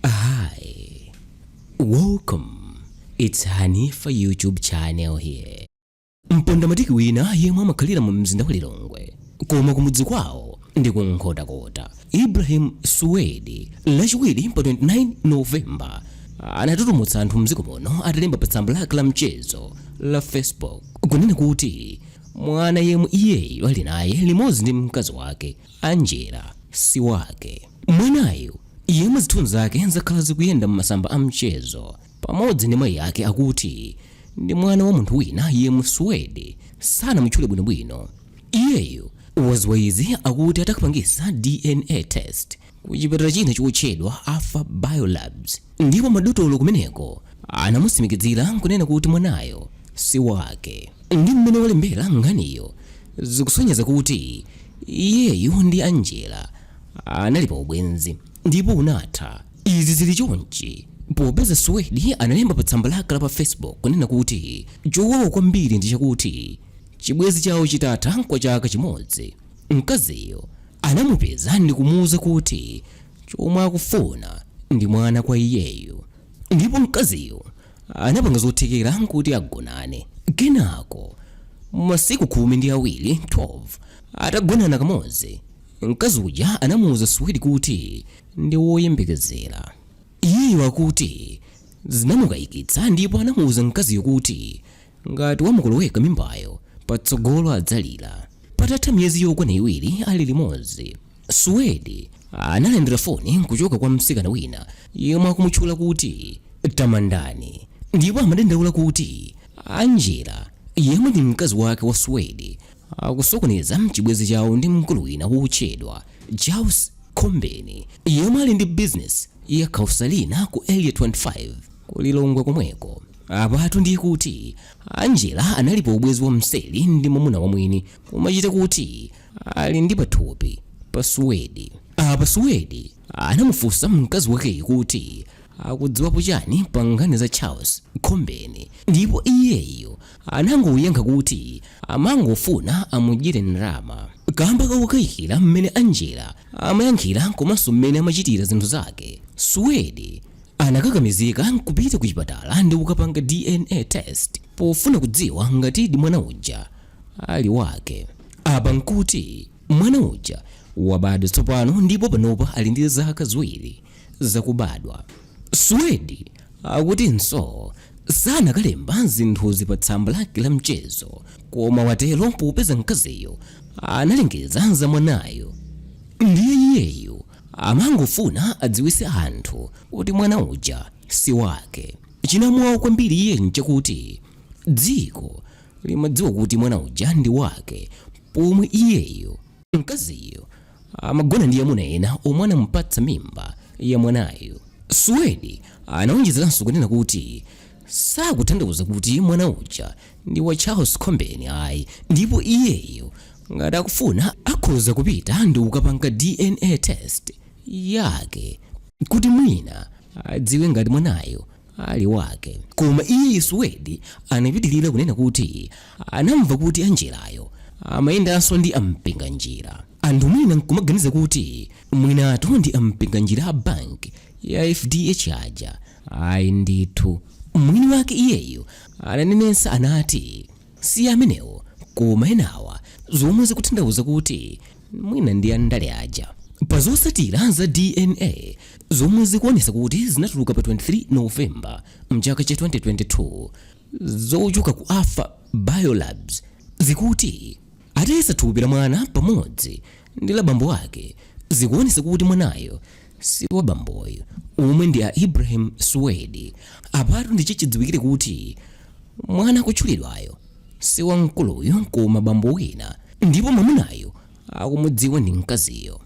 Hi, welcome. It's Hanifa YouTube channel here. Mpondamatiki wina yemwe amakhalira mu mzinda wa Lilongwe koma kumudzi kwawo ndi ku Nkhotakota. Ibrahim Suwedi lachiwiri pa 29 November anatutumutsa anthu mdziko muno atalemba pa tsamba lake la mchezo la Facebook kunena kuti mwana yemwe iyeyo ali naye limodzi ndi mkazi wake Angela si wake. Mwanayo, yemwe zithunzi zake zakhala zikuyenda m'masamba a mchezo, pamodzi ndi mayi yake akuti ndi mwana wa munthu wina yemwe Suwedi sanamutchule bwinobwino. Iyeyo waziwa izi akuti atakapangisa DNA test ku chipatala china chotchedwa Alpha Biolabs ndipo madotolo kumeneko anamusimikizira nkunena kuti mwanayo si wake. Ndi m'mene walembera nkhaniyo zikusonyeza kuti. Iyeyo ndi Angela anali pa ubwenzi ndipo unatha. Izi zili chonchi popeza Suwedi analemba pa tsamba lake la pa Facebook kunena kuti chowawa kwambiri ndi chakuti chibwenzi chawo chitatha kwa chaka chimodzi, mkaziyo anamupeza ndikumuuza kuti chomwe akufuna ndi mwana kwa iyeyo ndipo mkaziyo anapanga zothekera kuti agonane. Kenako masiku khumi ndi awiri 12 atagonana kamodzi, mkazi uja anamuuza Suwedi kuti ndi woyembekezera. Iyeyo akuti zinamukayikitsa ndipo anamuuza mkaziyo kuti ngati wamukoloweka mimbayo, patsogolo adzalira. Patatha miyezi yokwana iwiri ali limodzi, Suwedi analandira foni kuchoka kwa msikana wina yemwe akumutchula kuti Tamandani ndipo amadandaula kuti Angela yemwe ndi mkazi wake wa Suwedi akusokoneza mchibwenzi chawo ndi mkulu wina wotchedwa Charles Khombeni yemwe ali ndi bizinesi ya car selling ku Area 25 ku Lilongwe komweko. Apatu ndiye kuti Angela anali pa ubwenzi wamseri ndi mwamuna wa mwini kumachita kuti ali ndi pathupi pa suwedi apa suwedi anamufunsa mkazi wakeyi kuti akudziwapo chani pa nkhani za charles khombeni ndipo iyeyo anangoyankha kuti amangofuna amudyere ndalama kamba kakukayikira mmene angela amayankhira komanso mmene amachitira zinthu zake suwedi anakakamizika kupita ku chipatala ndi kukapanga dna test pofuna kudziwa ngatidi mwana uja ali wake. Apa n'kuti mwana uja wabadwa tsopano ndipo panopa ali ndi zaka ziwiri zakubadwa. Suwedi akutinso sanakalemba zinthuzi pa tsamba lake la mchezo, koma watero popeza mkaziyo analengeza za mwanayo ndiye iyeyo amangofuna adziwitse anthu kuti mwana uja si wake. Chinamuwawa kwambiri iye n'chakuti dziko limadziwa kuti mwana uja ndi wake pomwe iyeyo mkaziyo amagona ndi amuna ena omwe anamupatsa mimba ya mwanayo suwedi anawonjezeranso kunena kuti sakutanthauza kuti mwana uja ndi wa charles kombeni ayi ndipo iyeyo ngati akufuna akhoza kupita ndi kukapanga dna test yake kuti mwina adziwe ngati mwanayo ali wake. Koma iye Suwedi anapitirira kunena kuti anamva kuti Angelayo amayendanso ndi a Mpinganjira. Anthu mwina n'kumaganiza kuti mwinatu ndi a Mpinganjira a banki ya fdh aja. Ayi ndithu. Mwini wake iyeyo ananenetsa anati. Si amenewo koma enawa zomwe zikutanthauza kuti mwina ndi andale aja. Pa zotsatira za DNA zomwe zikuonesa kuti zinatuluka pa 23 November mchaka cha 2022 zochoka ku Alpha Biolabs zikuti atayesa thupi la mwana pamodzi ndi la bambo ake zikuonesa kuti mwanayo si wa bamboyu omwe ndi a ibrahim suwedi apatu ndi chichidziwikire kuti mwana akutchulidwayo si wa mkuluyo koma bambo wina ndipo mwamunayo akumudziwa ndi mkaziyo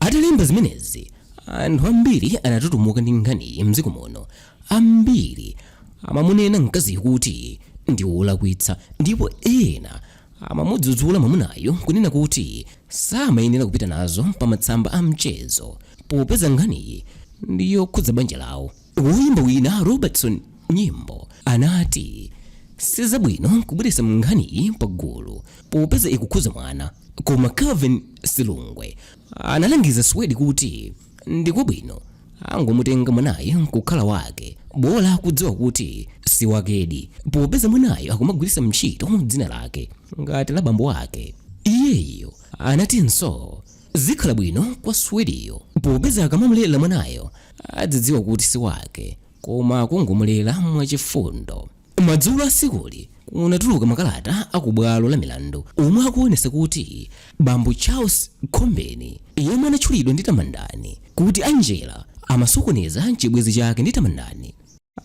atalemba zimenezi anthu ambiri anatutumuka ndi nkhaniyi mdziko muno ambiri amamunena mkaziyo kuti ndi wolakwitsa ndipo ena amamudzudzula mwamunayu kunena kuti samayenera kupita nazo pa matsamba a mchezo popeza nkhaniyi ndi yokhudza banja lawo. Woyimba wina Robertson Nyimbo anati sizabwino kubweretsa nkhaniyi pagulu popeza ikukhudza mwana, koma Calvin Silungwe analangiza Suwedi kuti Ndikwabwino angomutenga mwanayo nkukhala wake bola akudziwa kuti siwakedi popeza mwanayo akumagwiritsa ntchito dzina lake ngati la bambo ake. Iyeyo anatinso zikhala bwino kwa Suwediyo popeza akamamulera mwanayo adzidziwa kuti siwake koma akungomulera mwachifundo. Madzulo a tsikuli, kunatuluka makalata a ku bwalo la milandu omwe akuonesa kuti bambo Charles Khombeni yemwe anatchulidwa ndi Tamandani kuti Angela amasokoneza chibwenzi chake ndi Tamandani,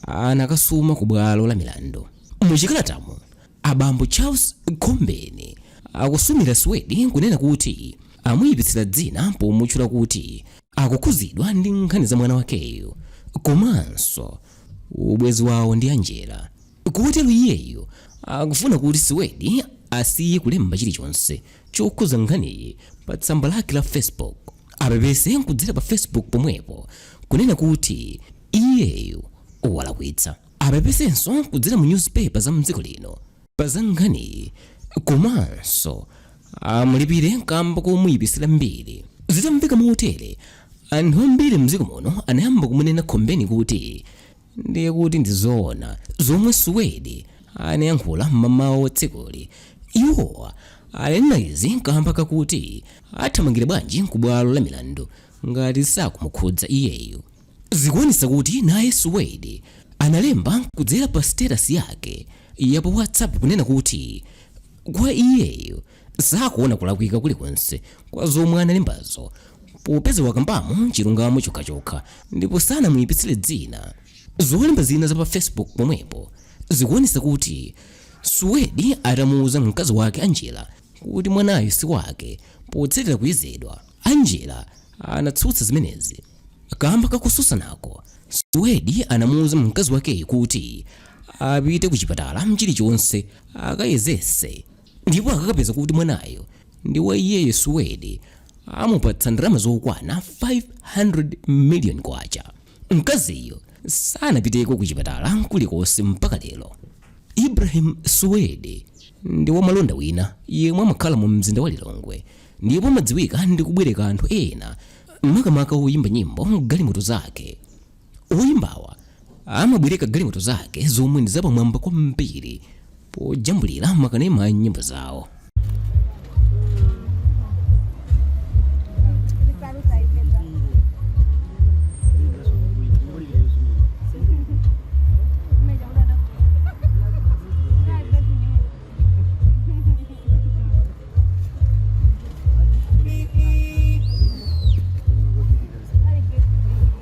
anakasuma ku bwalo la milandu. Mu chikalatamo, a bambo Charles Khombeni akusumira Suwedi kunena kuti amuyipitsira dzina pomutchula kuti akukhudzidwa ndi nkhani za mwana wakeyu komanso ubwenzi wawo ndi Angela. Kotero iyeyu akufuna kuti Suwedi asiye kulemba chilichonse chokhudza nkhaniyi pa tsamba lake la Facebook. Apepese kudzera pa Facebook pomwepo kunena kuti iyeyu walakwitsa. Apepesenso kudzera mu newspaper za mdziko lino pa za nkhaniyi komanso amulipire kamba komuyipitsira mbiri. Zitamveka motere, anthu ambiri mdziko muno anayamba kumunena Khombeni kuti ndiye kuti ndi zoona zomwe Suwedi anayankhula m'mamawa a tsikuli. Iwo ananena izi kamba kakuti athamangira bwanji ku bwalo la milandu ngati sakumukhudza iyeyo. Zikuonetsa kuti naye Suwedi analemba kudzera pa status yake ya pa WhatsApp kunena kuti kwa iyeyo sakuona kulakwika kulikonse kwa zomwe analembazo popeza wakambamo chilungamo chokhachokha ndipo sanamuipitsire dzina. Zolemba zina za pa Facebook pomwepo zikuonetsa kuti Suwedi atamuuza mkazi wake Angela kuti mwanayo si wake potsatira kuyezedwa. Angela anatsutsa zimenezi. Kamba ka kutsutsanako, Suwedi anamuuza mkazi wakeyu kuti apite kuchipatala chilichonse akayezetse ndipo akakapeza kuti mwanayo ndi wa iyeyo, Suwedi amupatsa ndalama zokwana 500 miliyoni kwacha. Mkaziyo sanapiteko kuchipatala kulikonse mpaka lero. Ibrahim Suwedi ndi wamalonda wina yemwe amakhala mu mzinda wa Lilongwe ndipo amadziwika ndi kubwereka anthu ena makamaka oyimba nyimbo galimoto zake. Oyimbawa amabwereka galimoto zake zomwe ndi zapamwamba kwambiri pojambulira makanema a nyimbo zawo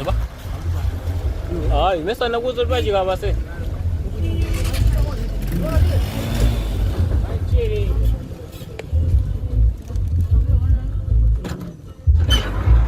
Apa? Ah, mesa na kuzo twa chika base.